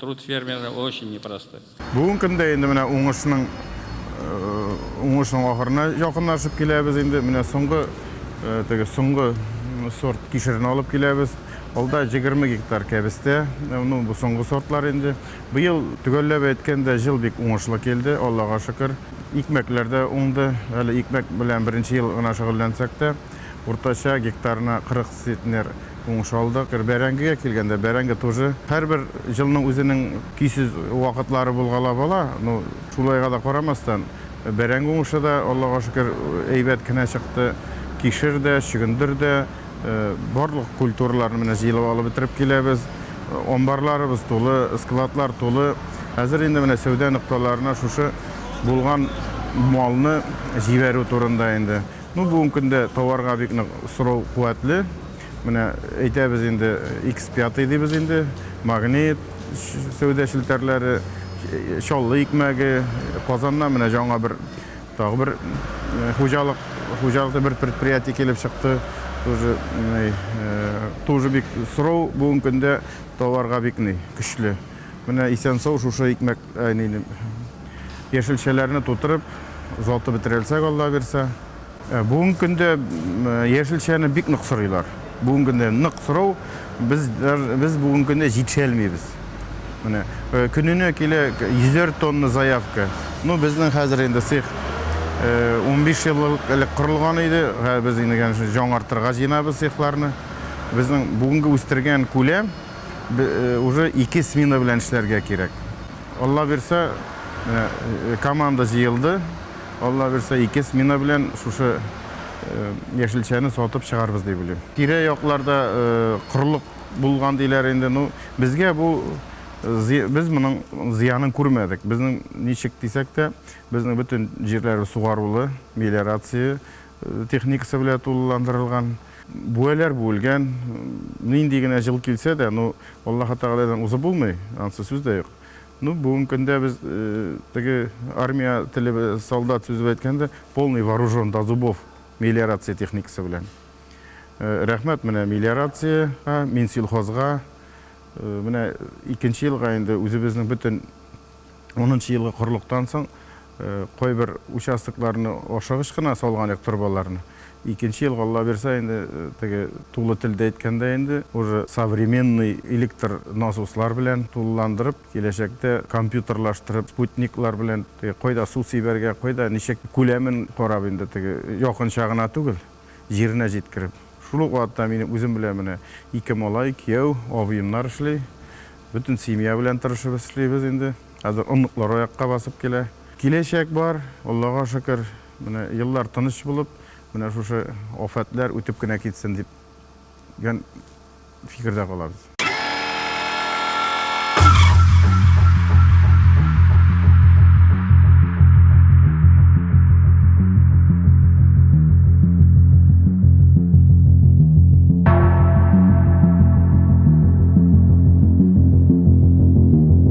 Труд фермера очень непростой. Бүгенге көндә инде менә уңышның уңышның ахырына якынлашып киләбез инде. Менә соңгы теге соңгы сорт кишерне алып киләбез. Алда 20 гектар кәбестә, ну бу соңгы сортлар инде. Быел төгәлләп әйткәндә җил бик уңышлы килде, Аллага шөкер. Икмәкләр дә уңды. Әле икмәк белән беренче ел гына шөгыльләнсәк тә, уртача гектарына 40 Цветнер уңыш алды. Гер бәрәңгегә килгәндә, бәрәңге тоже һәрбер җылның үзенең көйсез вакытлары булгалап ала. Ну, шулайга да карамастан, бәрәңге уңышы да, Аллага шөкер, әйбәт кенә чыкты. Кишер дә, чөгендер дә, барлык культураларны менә җыелып алып бетереп киләбез. Амбарларыбыз тулы, складлар тулы. Хәзер инде менә сәүдә нокталарына шушы булган малны җибәрү турында инде. Ну бүгенге көндә товарга бик нык сорау куәтле. Менә әйтәбез инде, X5 дибез инде, магнит, сәүдә челтәрләре, Чаллы икмәге, Казаннан менә жаңа бер тагы бер хуҗалык, хуҗалыкта бер предприятие килеп чыкты. Тоже, тоже бик сорау бүгенге көндә товарга бик ни көчле. Менә исән-сау шушы икмәк Әнине яшелчәләрне тутырып, озатып бетерәлсәк, Алла бирсә. Бүгенге көндә яшелчәне бик нык сорыйлар. Бүгенге көндә нык сорау, без без бүгенге көндә җитешәлмибез. Менә көненә килә йөзәр тонна заявка. Ну, безнең хәзер инде цех 15 ел элек корылган иде. Без инде, конечно, җаңартырга җыенабыз цехларны. Безнең бүгенге үстергән күләм. Уже ике смена белән эшләргә кирәк. Алла бирсә, команда җыелды. Алла бирсә, ике смена белән шушы яшелчәне сатып чыгарбыз дип уйлыйм. Тирә-якларда корылык булган диләр инде. Ну, безгә бу без моның зыянын күрмәдек. Безнең ничек дисәк тә, безнең бөтен җирләре сугарулы, мелиорация, техникасы белә тулыландырылган, бүәләр бүелгән, нинди генә җыл килсә дә, ну, Аллаһы Тәгаләдән узып булмый, ансы сүз дә юк. Ну, бүген көндә без теге армия теле, солдат сүзе белән әйткәндә, полный вооружен до зубов мелиорация техникасы белән. Рәхмәт менә мелиорациягә, Минсельхозга. Менә икенче елга инде үзебезнең бөтен унынчы елгы корылыктан соң Кайбер участокларны ашыгыч кына салган идек торбаларны. Икенче елга Алла бирса инде теге тулы телдә әйткәндә инде уже современный электр насослар белән тулыландырып, киләчәктә компьютерлаштырып, спутниклар белән теге кайда су сибәргә, кайда ничек күләмен карап инде теге якынча гына түгел, җиренә җиткереп. Шул ук вакытта минем үзем белән менә ике малай, кияү, абыемнар эшли. Бөтен семья белән тырышып эшлибез инде. Хәзер оныклар аякка басып килә. Киләчәк бар, Аллага шөкер. Менә еллар тыныч булып, менә шушы афәтләр үтеп кенә китсен дип гән фикердә калабыз.